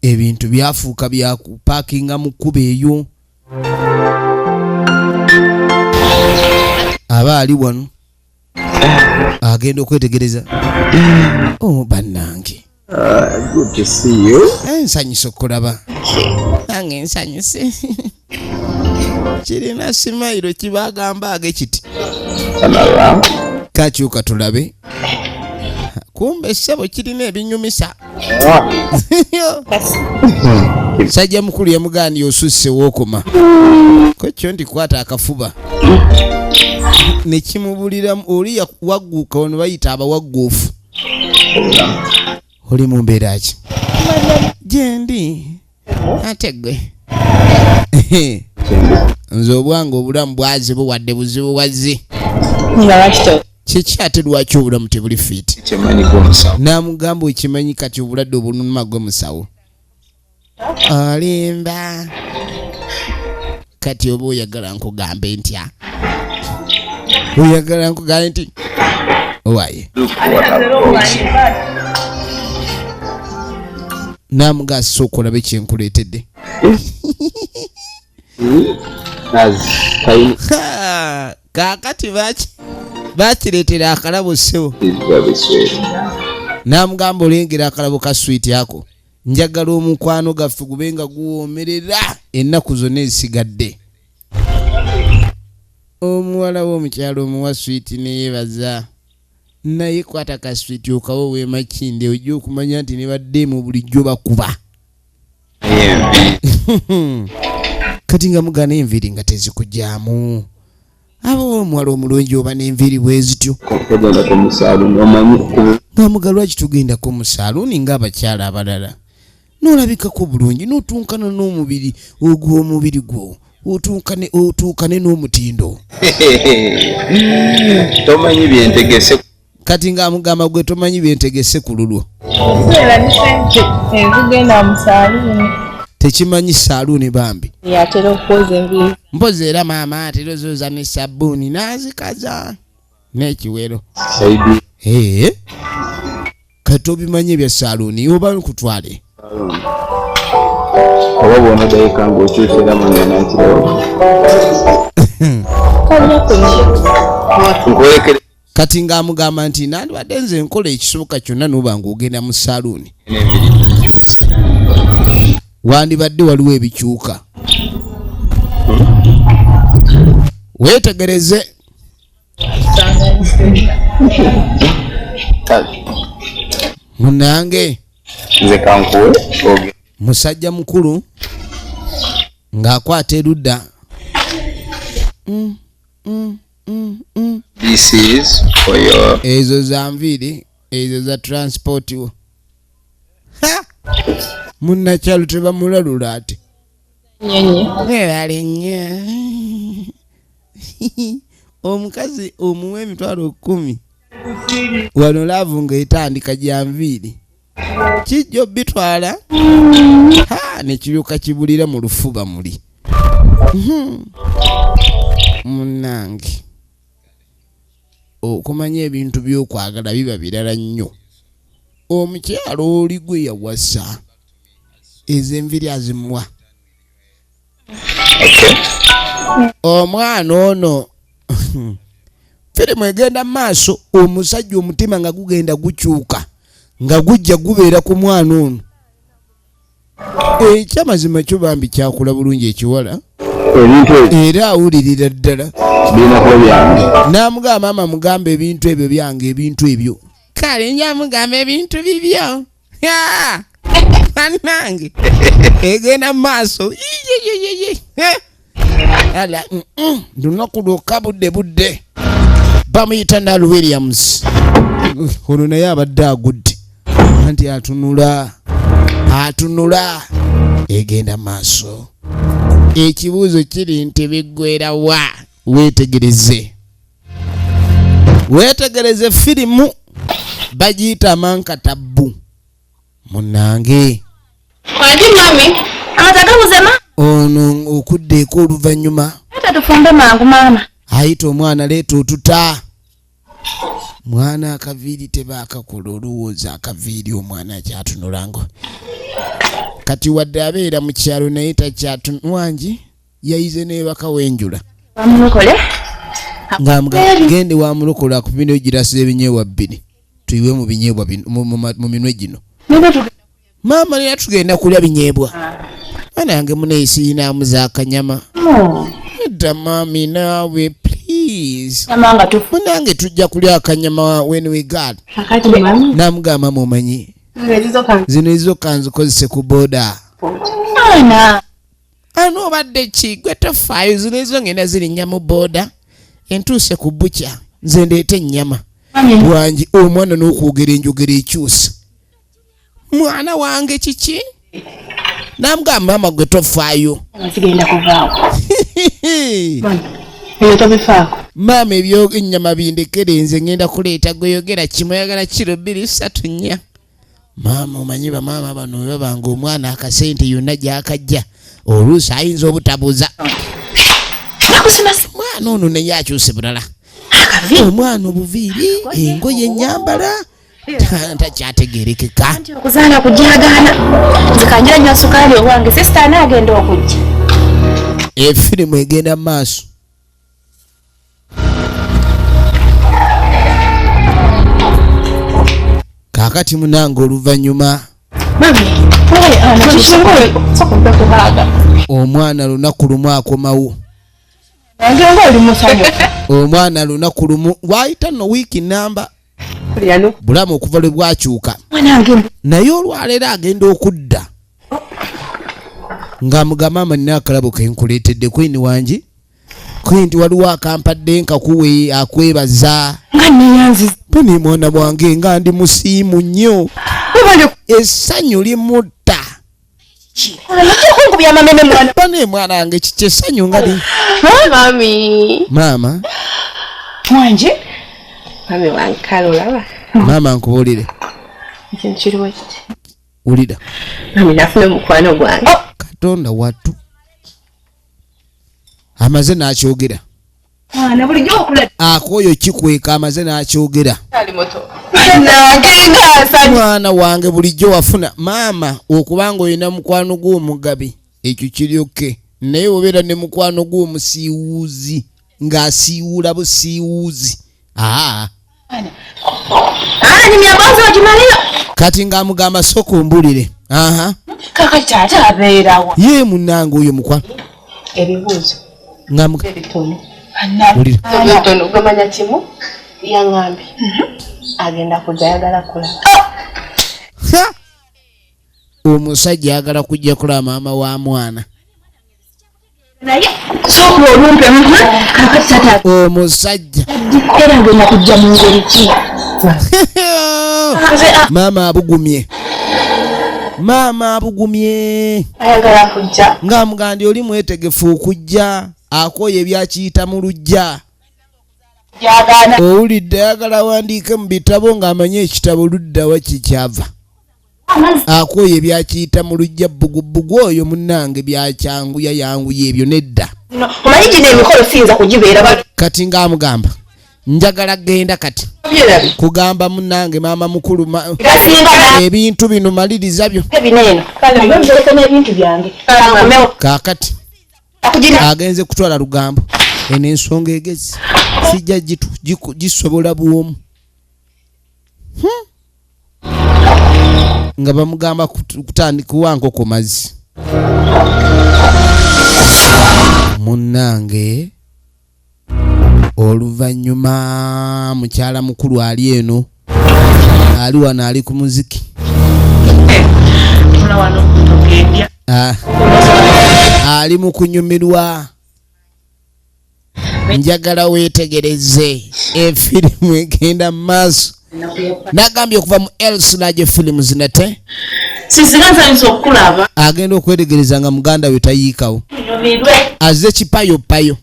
B: ebintu byafuuka byakupakinga mu kkuba eyo aba ali wano agenda okwetegereza oh, bannange
E: eh, nsanyusa okulaba
B: nange nsanyuse kirina simayiro kibagamba age kiti
E: kakyuka
B: tulabe kumbe ssebo kirina ebinyumisa sajja mukulu yamugaaniye osusse wookoma kwekyo nti kwata akafuba nekimubuliramu oli wagguuka ono bayita abawagguufu oli mu mbeera ki gyendi ate gwe nze obwange obulamu bwazibu wadde buzibu wazzi kiki ate lwaki obulamu tebuli fit namugamba okimanyi kati obulwadde obulunuma gwe musawo olimba kati oba oyagala nkugambe ntya oyagala nkugambe nti owaye namugasa okulaba ekyenkuleetedde kakati baki bakireetera akalabo ssebo namugamba olengera akalabo ka swiiti ako njagala omukwano gaffe gube nga guwoomerera ennaku zonna ezisigadde omuwala w'omukyalo omuwa switi neyebaza naye kwata ka switi okawo wemakinde ojja okumanya nti nebadde mu bulijjo bakuba kati nga mugana enviri nga tezikujamu aba omuwala omulungi oba n'enviiri bwe zityo ng'amuga lwaki tugendako mu saaluuni ng'abakyala abalala n'olabikako bulungi n'otunkana n'omubiri ogw'omubiri gwo otunkane otuukane n'omutindo
E: tomanyi byentegese kati nga
B: amugamba gwe tomanyi byentegese ku lulwo tekimanyi saluuni bambi
C: mpozi era maama
B: atera ozoza ne sabbuuni nazikaza n'ekiwero kati obimanyi ebya saluuni oba nkutwale
E: oba bwona dayika ngaokyusera manyanakirewo
B: kati ng'amugamba nti nandibadde nze nkola ekisoboka kyonna noba ng'ogenda mu saluuni wandibadde waliwo ebikyuka weetegereze munange
E: musajja
B: mukulu ng'akwata erudda mm, mm.
E: mm, mm. this is for your ezo za nviiri
B: ezo za transport wo munnakyalo tebamulalula ate ebalinye omukazi omuwa emitwalo kumi wano laavu ngaetandika gyanviiri kijjo bitwala ha nekibyuka kibulira mu lufuba muli hmm. munange okumanya ebintu byokwagala biba birala nnyo omukyalo oli gwe yawasa ezenviri azimwa omwana ono firimu egenda maaso omusajja omutima nga gugenda gukyuka nga gujja gubeera ku mwana ono ekyamazima eh, kyo bambi kyakula bulungi ekiwala era awulirira ddala namugamba maama mugamba ebintu ebyo byange ebintu ebyo kale nyamugamba ebintu bibyo Ya! Banange. Egenda mu maaso. Yiyiyiyiyi. Eh. Ala, mm, mm. Lunaku lwokka budde budde. Bamuyita Nal Williams. Ono naye abadde agudde. Anti atunula. Atunula. Egenda mu maaso. Ekibuuzo kiri nti biggwera wa? Weetegereze. weetegereze firimu bagiyita manka tabbu munange
D: ono
B: okuddeeko oluvannyuma
D: ayita omwana
B: leeta otuta mwana akaviiri tebaakakola olowooza akaviiri omwana akyatunulanga kati wadde abeera mu kyalo naye takyatunwangi yayize nebaka wenjula ngagende wamulokola akupindeyo girasi ebinyeebwa bbiri tuyiwe mu binyeebwa mu minwe gino maama nera tugenda kulya binyeebwa ana yange muneyisiinamu zakanyama edda maami naawe please munange tujja kulya akanyama when we got namugamba mumanyi zino ezizoka nzikozese ku boda ani obadde ki gwe tofaayo zino ezo ngenda zirinnya mu booda entuuse ku bukya nze ndeeta ennyama wangi omwana n'okwogera enjogera ekyusa mwana wange kiki namugamba maama gwe tofaayo
D: maama ebyo
B: ennyama bindekere nze ngenda kuleeta gweyogera kimu oyagala kiro bbiri satu nnya maama omanyi bamaama bano webabanga omwana akasente yonna gyakajja oluusi ayinza obutabuuza mwana ono naye akyuse bulala omwana obuviiri engoye enyambala takyategerekeka okuzaala kujagaana
D: nzikanjira nyo sukaali owange sisita anaagenda okujja
B: efirimu egenda mu maaso kakati munange oluvanyuma omwana lunaku lumu akomawo omwana lunaku lumu waayita no wiiki namba bulamu okuva lwe bwakyuka naye olwaleero agenda okudda nga mugamba amanina akalabo kenkuleetedde kwini wangi kwenti waliwo akampadde nkakuwe akwebaza buni mwana bwange nga ndi musiimu nnyo essanyu limutta bane mwana wange kiki essanyu nga li maama wanje
C: maama nkubuulire wulira katonda watu
B: amaze n'akyogera
C: akooyo kikweka
B: amaze n'akyogera
C: mwana wange bulijjo
B: wafuna maama okuba nga olina mukwano gw'omugabi ekyo kiryoke naye obeera ne mukwano gw'omusiiwuuzi ng'asiiwuula busiiwuuzi aa
C: kati ng'amugamba
B: soka ombulire
C: ye munange oyo
B: mukwa omusajja ayagala kujja kulaba maama wa mwana
C: omusajja
B: maama abugumye maama abugumye
C: nga mugandi oli
B: mwetegefu okujja akoya ebyakiyita mu lujja
C: owulidde
B: ayagala awandiike mu bitabo ng'amanyi ekitabo luddawa kikyava akooye byakiyita mu lujja bbugubugu oyo munnange byakyangu yayanguye ebyo nedda omanyi gino
C: emikolo siyinza kugibeera kati ngaamugamba
B: njagala genda kati kugamba munange maama mukulu ebintu bino maliriza byo
C: kakati
B: agenze kutwala lugambo eno ensonga egezi sijja gisobola bwomu hmm? nga bamugamba kuwa nkoko mazzi munnange oluvannyuma mukyala mukulu ali eno ali wano ali ku muziki ah. ali mu kunyumirwa njagala weetegereze efirimu egenda mu maaso nagambye okuva mu elslage films nate
C: agenda okwetegereza
B: nga muganda we tayiikawo aze kipayo payo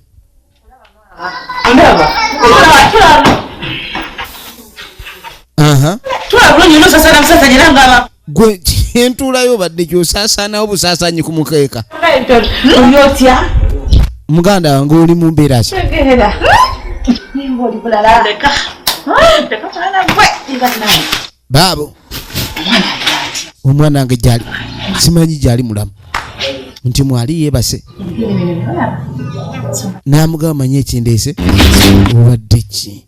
C: gwe
B: entuulayo badde kyosasaanawo busaasanyi ku mukeeka muganda wange oli mu mbeera ki
C: baabo
B: omwana wange gyali simanyi gyali mulamu nti mwali yebase namugamba manyi ekindeese obadde ki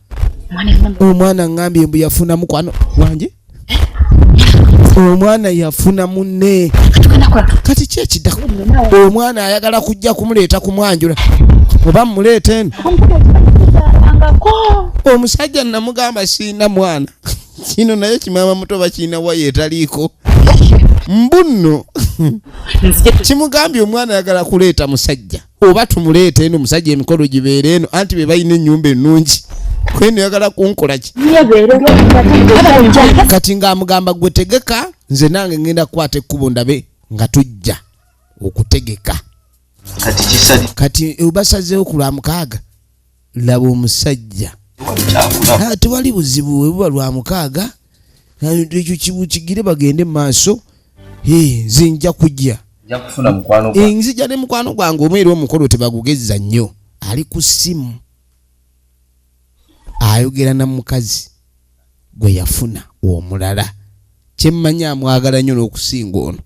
B: omwana ngambye mbu yafuna mukwano wange omwana yafuna munne kati kyekidako omwana ayagala kujja kumuleeta kumwanjula oba mumuleeta eno omusajja namugamba siina mwana kino naye kimama muto bakiina wayo etaliiko mbunno kimugambye omwana ayagala kuleeta musajja oba tumuleeta eno musajja emikolo gibeera eno anti be balina ennyumba ennungi kweno yagala kunkolaki kati ng'amugamba gwe tegeka nze nange ngenda kukwata ekkubo ndabe nga tujja okutegeka kati eh, basazeewo ku lwa mukaaga laba omusajja ah, tewali buzibu webuba lwa mukaaga ekyo kibukigire bagende mu maaso nze nja kujja eh, nzija ne mukwano gwange omu era omukolo tebagugezza nnyo ali ku ssimu ayogera na mukazi gwe yafuna omulala kyemmanyi amwagala nnyo n'okusinga ono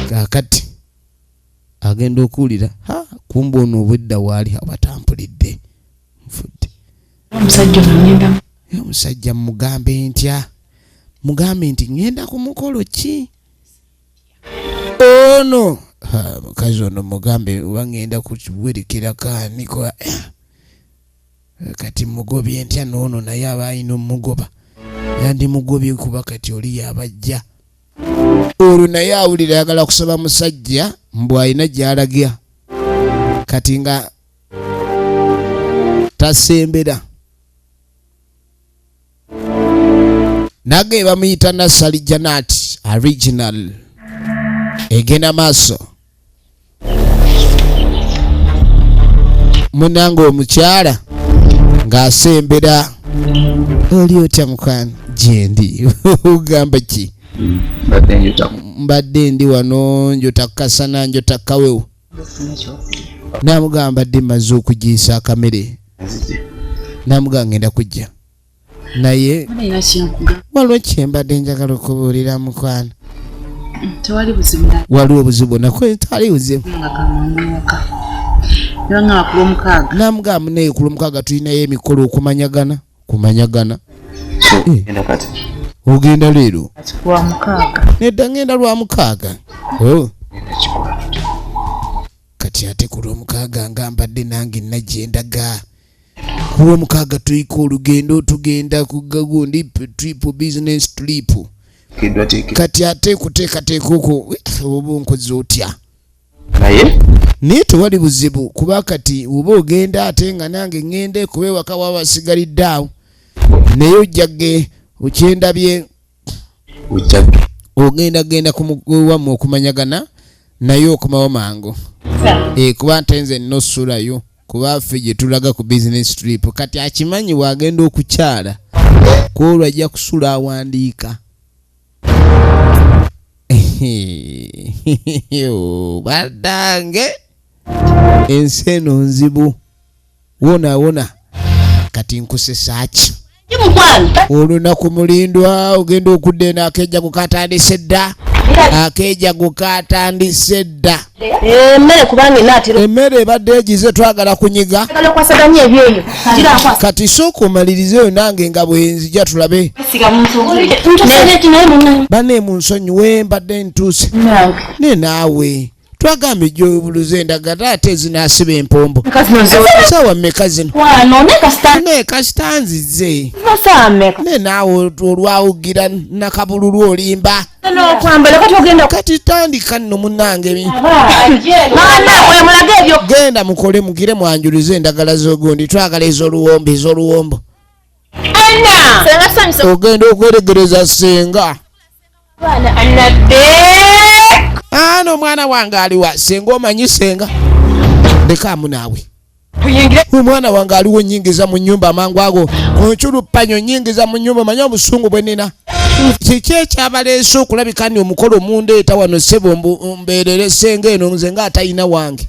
B: kakati agenda okuwulira ha kumba ono obwedda waali abatampulidde nfudde omusajja mugambe ntya mugambe nti ŋenda ku mukolo ki ono mukazi ono mugambe oba ŋenda kuwerekera kaaniko eh, kati mugobye ntya noono naye aba alina omugoba yandimugobye kuba kati oli yabajja olwo naye awulira ayagala kusaba musajja mbu alina gyalagya kati nga tasembera nage bamuyita nasali janat original egenda maaso munange omukyala ng'asembera oli otya mukwano gyendi ogamba ki mbadde ndi wano njota kukasana njota kukawewo namugamba ddi maze okugiisa akamere namugamba ngenda kujja naye waliwo kyembadde njagala okubuulira mukwano
D: waliwo obuzibu bwonna
B: kwetali buzibu namugamba naye ku lwomukaaga tulinayo emikolo okumanyagana kumanyagana ogenda leero
D: nedda ngenda lwa
B: mukaaga oh. kati ate ku lwomukaaga nga mbadde nange najyendaga ku lwomukaaga tulika olugendo tugenda ku gagundi trip business trip kati ate kuteekateeka okwo oba onkoze otya naye naye tewali buzibu kuba kati oba ogenda ate nga nange ŋŋende kuba ewaka waba wasigalidde awo naye ojjage okyendabye ogenda genda wammwe okumanyagana naye okomawo mangu eh, kuba nte nze nnosulayo kuba ffe gye tulaga ku business trip kati akimanyi waagenda okukyala kwolwo ajja kusula awandiika badange ensi eno nzibu wona wona kati nkusesaaki olunaku mulindwa ogenda okudda eno akejago katandise dda akejago katandise dda
C: emmere ebadde egize
B: twagala kunyiga
C: kati
B: sooka omalirize yo nange nga bwenzija tulabe bane munsonyiwe mbadde ntuuse ne naawe twagambye gyobuluza endagala ate ezinasiba empombo sawa meka zinonaye kasita nzize naye naawe olwawugira nakabululu olimba kati tandika nno munange genda mukole mugire mwanjuluze endagala zogundi twagala ezoluwombo ezoluwombo ogenda okweregereza senga ano omwana wange aliwa senga omanyi senga ndekaamu naawe omwana wange aliwo nyingiza mu nyumba amangu ago onkyulupanyo nyingiza mu nyumba manya obusungu bwe nina kiki ekyabaleese okulabika ni omukolo omundeeta wano sebo mbeerere senga eno nze nga atalina wange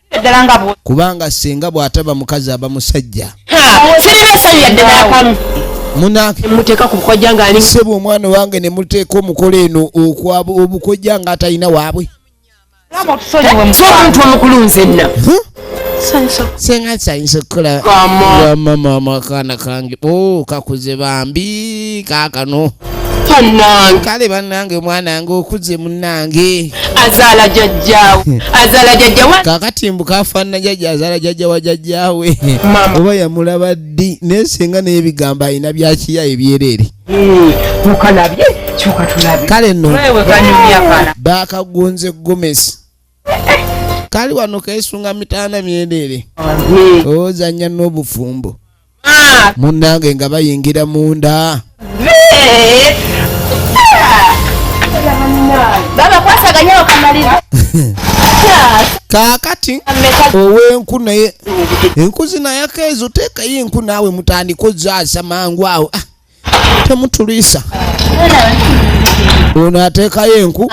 B: kubanga singa bwataba mukazi aba musajja
D: sebo omwana wange
B: nemuteeka omukola eno obukojja nga atalina waabwe omuntu
D: omukulu nzenna
B: senga sayinza okukola wamama amakaana kange o oh, kakuze bambi kakano bannange kale bannange omwana nga okuze munnange azaala
D: jajjaawe azaala jajjawe
B: kakati mbu kafaanana jajja azaala jajja wa jajjaawe oba yamulaba ddi naye singa naye ebigambo alina byakiya ebyereere hmm,
D: okalabye kyoka tulabe kale no
B: baakagonze gomesi kali wano keesunga mitaana myereere ozanya n'obufumbo munnange nga bayingira munda kakati owenku naye enku zinayakeezo teekayo enku naawe mutandika ozaasa mangu awo ah. temutulwisa ono ateekayo enku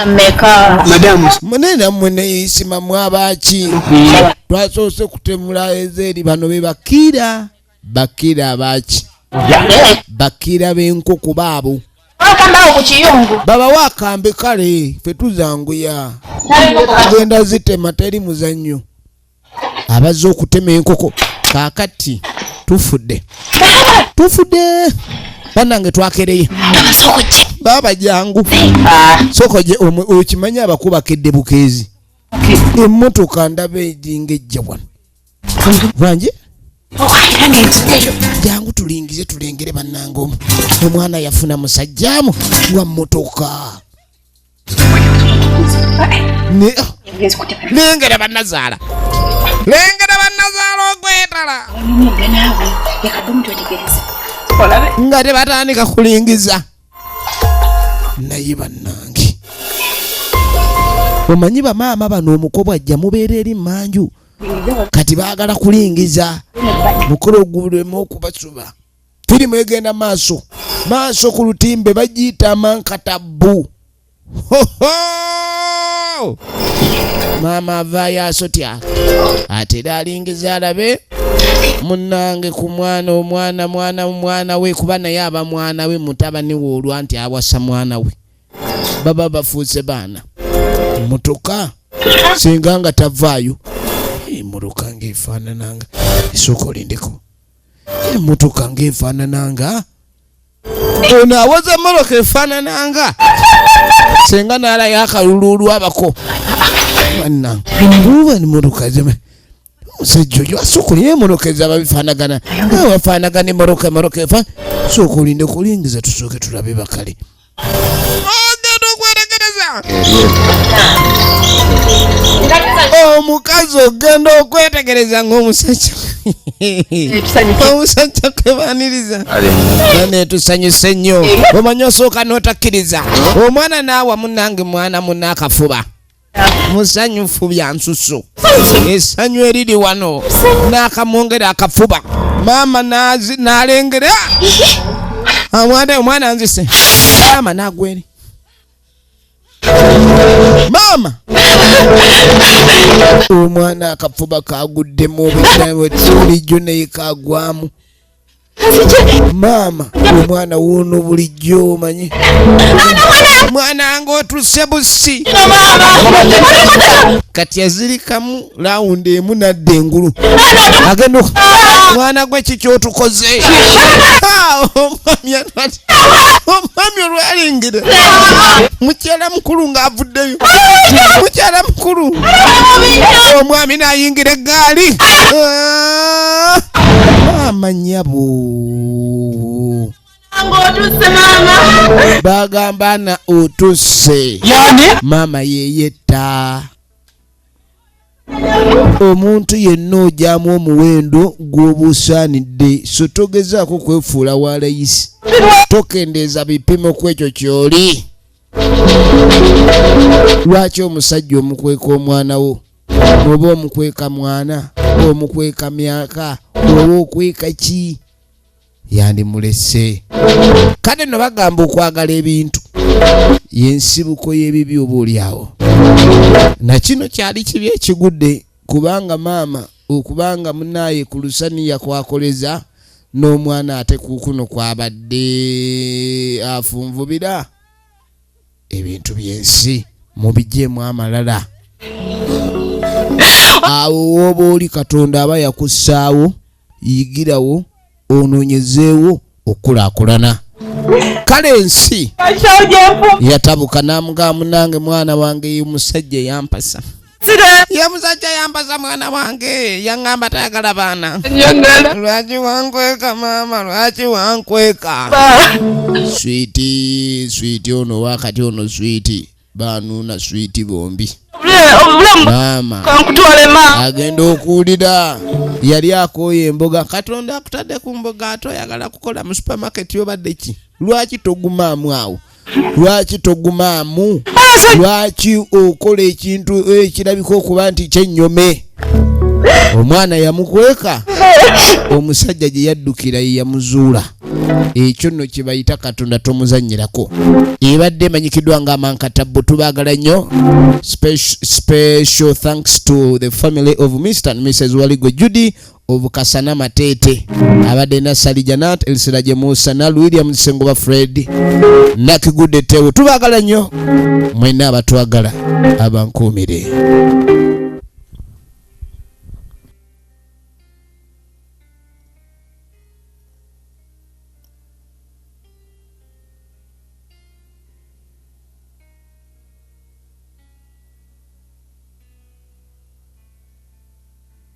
B: mune nammwe neyisima mwabaki twasoose kutemula ezeeri bano be bakira bakira abaki bakira b'enku ku baabo
C: babawo akambe
B: kale fe tuzanguya genda zitema teri muzannyo abazze okutema enkoko kakati tufudde tufudde banange twakereye baba jangu sokoje okimanyi abakubakedde bukeezi emotoka ndaba ejinga ejja wano banje jangu tulingize tulengere banange omu omwana yafuna musajjamu wa motoka nengera banazaala nengera banazaala okwetala nga tebatandika kulingiza naye banange omanyi bamaama bano omukobwa ajja mubeera eri manju kati baagala kulingiza mukolo ogulemu okubasuba firimu egenda maaso maaso ku lutimbe bagiyita amankatabbu maama avaayo asotya ate era alingiza alabe munange ku mwana omwana mwana mwana we kuba naye aba mwana we mutabani we olwa nti awasa mwana we baba bafuuse baana mutuka singa nga tavaayo muruka ngaefaanananga esooka olindeko emotoka nga efaanananga ono awoza emotoka efaanananga senga naalayo akaluluulu abako banangubanimotoka omusajja oyo asooka olina emotoka ezaba bifaanagana wafaanagana emotoka emotoka efa sooka olinde kulingiza tusooke tulabe bakale ogenda okwetegereza omukazi ogenda okwetegereza ng'omusajja omusajja kwebaniriza netusanyuse nnyo omanya osooka n'otakkiriza omwana naawa munange mwana munne akafuba musanyufu bya nsusu esanyu eriri wano n'akamwongera akafuba maama n'alengera amwana omwana nzise maama n'agweri maama omwana akafuba kagudde mu bilijjo naye kagwamu maama omwana wuuno bulijjo omanyi mwana nga otuse busi kati azirikamu lawundi emu nadda engulu agenda mwana gwe kikyotukoze omwami olwalengera mukyala mukulu ng'avuddeyo mukyala mukulu omwami n'ayingira eggaali amanyabo bagamba na otusse maama yeyetta omuntu yenna ogyamu omuwendo gw'obusaanidde so togezaako kwefuula wa layisi tokendeeza bipimo ku ekyo ky'oli lwaki omusajja omukweka omwana wo oba omukweka mwana omukweka myaka oba okweka ki yandimulese kale no bagamba okwagala ebintu yensibuko y'ebibi oba olyawo nakino kyali kibi ekigudde kubanga maama okubanga munaaye ku lusaniya kwakoleza n'omwana ate kukuno kwabadde afunvubira ebintu byensi mubijemu amalala awo woba oli katonda aba yakussaawo yigirawo onoonyezeewo okukulaakulana kale ensi yatabuka namugaa munange mwana wange musajja yampasa ye musajja yampasa mwana wange yaŋamba tayagala baana lwaki wankweka maama lwaki wankweka switi switi ono wakati ono switi banuuna switi bombi maama agenda okuwulira yali akooye emboga katonda akutadde ku mboga ate oyagala kukola mu supermarket yobadde ki lwaki togumaamu awo lwaki togumaamu lwaki okola ekintu ekirabika okuba nti kyenyome omwana yamukweka omusajja gye yaddukira ye yamuzuula ekyo nno kye bayita katonda tomuzannyirako ebadde emanyikiddwa nga amankatabbu tubaagala nnyo special thanks to the family of mr and mrs waligo judy obukasana matete abadde nasali janat elsiraje musa nal william sengoba fred nakigude tewo tubagala nnyo mwena abatwagala abankuumire